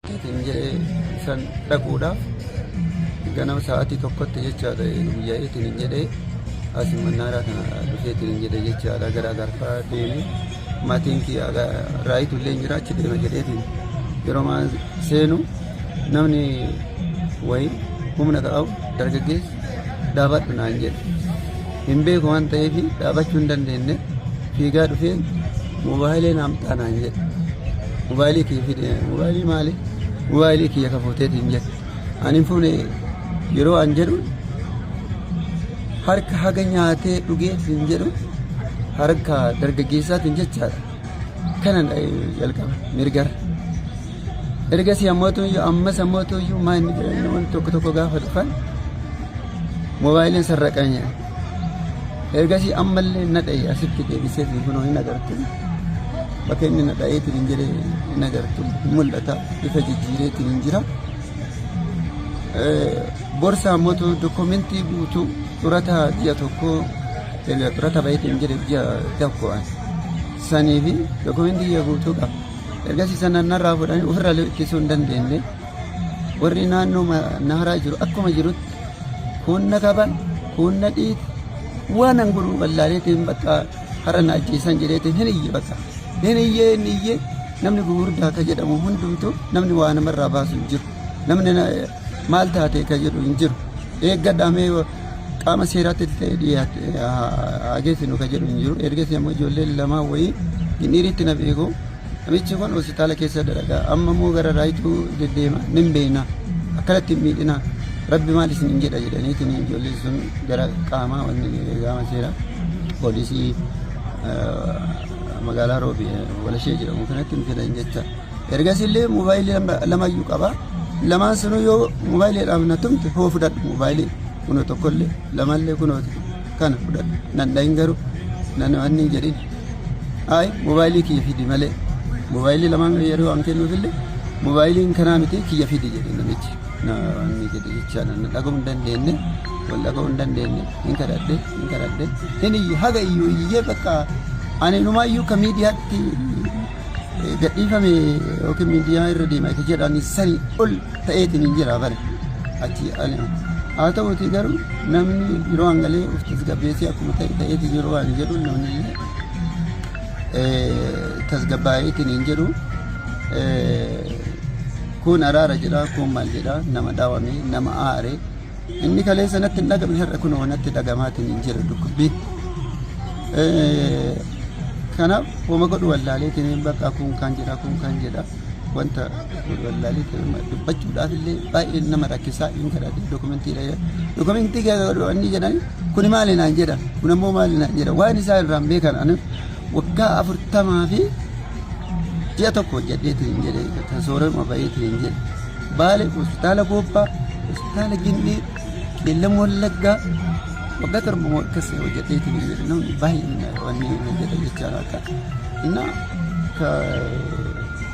Ittiin jedhee san dhaquudhaaf ganama sa'aatii tokkotti jechaadha guyyaa ittiin jedhee asii mannaaraa kana dhufee ittiin jedhee jechaadha gara agarfaa deemu maatiin kiyya raayitu illee jira achi deema jedheetiin yeroo seenu namni wayii humna qabu dargaggeessi Dhaabadhu naan jedhe. Hin beeku waan ta'eef dhaabachuu hin dandeenye. Fiigaa dhufee mobaayilii naaf ta'a naan jedhe. Mobaayilii kiyya fide. Mobaayilii maali? Mobaayilii kiyya ka fuuteeti hin jedhe. Ani hin fuune yeroo an jedhu harka haga nyaatee dhugee hin jedhu harka dargaggeessaatiin jechaadha. Kanan jalqaba mirgara. Ergasii ammoo tuyyuu ammas ammoo tuyyuu maa inni jedhanii namoonni tokko tokko gaafa dhufan moobaayiliin sarraqan jedhan. Ergasii ammallee na dha'e asitti deebisee fi kunoo hin agartu. Bakka inni na dha'eetiin hin jedhee hin agartu. Mul'ata bifa jijjiireetiin hin jira. Borsaa ammoo dokumentii guutuu xurataa ji'a tokkoo xurata baheetiin hin jedhe ji'a tokko sanii fi dokumentii ji'a guutuu qaba. Ergasii sana narraa fuudhanii ofirraa ittisuu hin dandeenye. Warri naannoo naharaa jiru akkuma jirutti kuun na qaban kuun na dhiite waan an godhu wallaaleetiin bakka har'a na ajjeesan jedheetiin hin iyye bakka hin iyyee hin iyyee namni gugurdaa akka jedhamu hundumtu namni waa namarraa baasu hin jiru namni Maal taatee kan jedhu hin jiru. Eeggadhaa mee qaama seeraatti ta'e dhiyaate haa geessinu kan jedhu hin jiru. Ergasii ammoo ijoolleen lamaa wayii hin dhiiritti na beeku. Namichi kun hospitaala keessa dalagaa amma immoo gara raayituu deddeema nin beekna akkanatti hin miidhina rabbi maal isin hin jedha jedhaniitiin ijoolleen sun gara qaamaa wanni qaama seeraa poolisii eh, magaalaa roobi eh, walashee jedhamu kanatti hin fidan jecha. Ergasiillee moobaayilii lamayyuu qaba. Lamaan sanuu yoo moobaayiliidhaaf na tumte hoo fudhadhu moobaayilii kunoo tokkollee lamallee kunoo kana fudhadhu nan dhahin garuu nan wanni hin jedhin. Ayi moobaayilii kiyya fidi malee moobaayilii lamaan yeroo an kennuufillee moobaayiliin kanaa miti kiyya fidi jedhe namichi. Na wanni jedhe jechaa na dhaga'uu hin dandeenye wal dhaga'uu hin dandeenye hin kadhadhe hin kadhadhe hin iyye haga iyyuu iyyee bakka ani inumaa iyyuu ka miidiyaatti gadhiifame yookiin miidiyaa irra deema isa jedhani sanii ol ta'eetiin hin jira bari achi haa ta'uti garuu namni yeroo hangalee of tasgabbeessee akkuma ta'e ta'eetiin yeroo waan jedhu namni tasgabbaa'eetiin hin jedhu kun araara jedha kun maal jedha nama dhaawame nama aare. Inni kaleessa natti hin dhagamne har'a kunoo natti dhagamaatiin hin jira dhukkubbiin. Kanaaf homa godhu wallaaleetiin bakka kun kan jedha kun kan jedha wanta wallaaleetiin dubbachuudhaaf illee baay'ee nama rakkisaa hin kadhadhe dokumentii dha dokumentii keessa godhu inni jedhan kun maali naan jedha kun ammoo maali naan jedha waan isaa irraan beekan ani waggaa afurtamaa fi ji'a tokko hojjedheetiin jedhe kan soorama bayeetiin jedhe. Baale, Hospitaala Goobbaa, Hospitaala Ginnii, Qeellam Wallaggaa waggaa torba moo akkas hojjetee ture jedhe namni baay'een wanni hojjete jechaa akka inna ka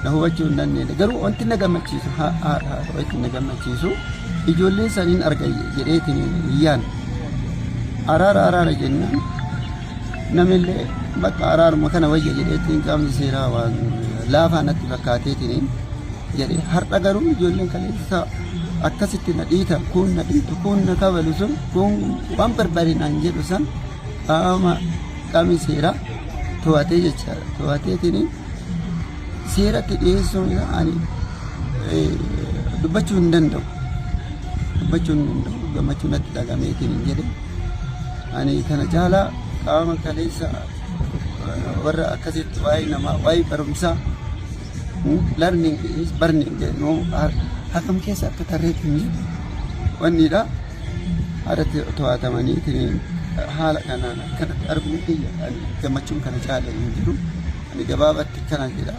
na hubachuu hin dandeenye garuu wanti na gammachiisu haa haa haa wanti na gammachiisu ijoollee saniin arga jedheetiin iyyaan araara araara jennaan Namillee bakka araaruma kana wayya jedheetiin qaamni seeraa waan laafaa natti fakkaateetiin jedhe har'a garuu ijoolleen kaleessaa akkasitti na dhiita kun na dhiitu kun na kabalu sun kun waan barbaade naan jedhu san qaama qaamni seeraa to'atee jechaadha to'ateetiin seeratti dhiyeessuun isaa ani eh, dubbachuu hin danda'u dubbachuu hin danda'u gammachuu natti dhagameetiin hin jedhe. Ani kana caalaa qaama kaleessa warra akkasitti waa'ee namaa waa'ee barumsaa learning is burning jedhu akkam keessa akka tarreetti hin jiru. Wanniidha haadhatti to'atamanii haala kanaan akkanatti arguun kiyya ani gammachuun kana caala hin jiru. Ani gabaabatti kana jedha.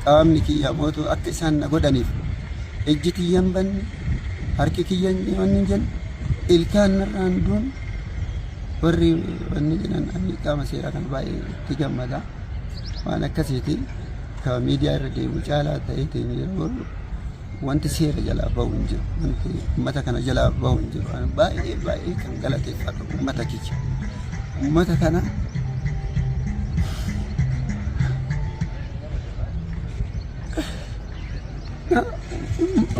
Qaamni kiyya mootu akka isaan na godhaniif ejji tiyyan banne Harki kiyya hin dhimanne hin jenne ilkaan narraan duun warri wanni jedhan ani qaama seeraa kana baay'ee itti gammada waan akkasiiti ka miidiyaa irra deemu caalaa ta'eetiin yeroo wanti seera jalaa bahu hin jiru wanti ummata kana jalaa bahu hin jiru ani baay'ee baay'ee kan galateeffadhu ummata kiyya ummata kana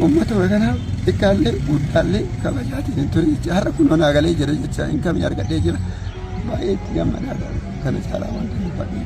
Uummata kanaaf xiqqaallee guddaallee kabajaatiin hin ture jecha har'a kun onaa galee jira jecha hin kamii argadhee jira baay'ee itti gammadaa kana caalaa wanti hin fadhiin.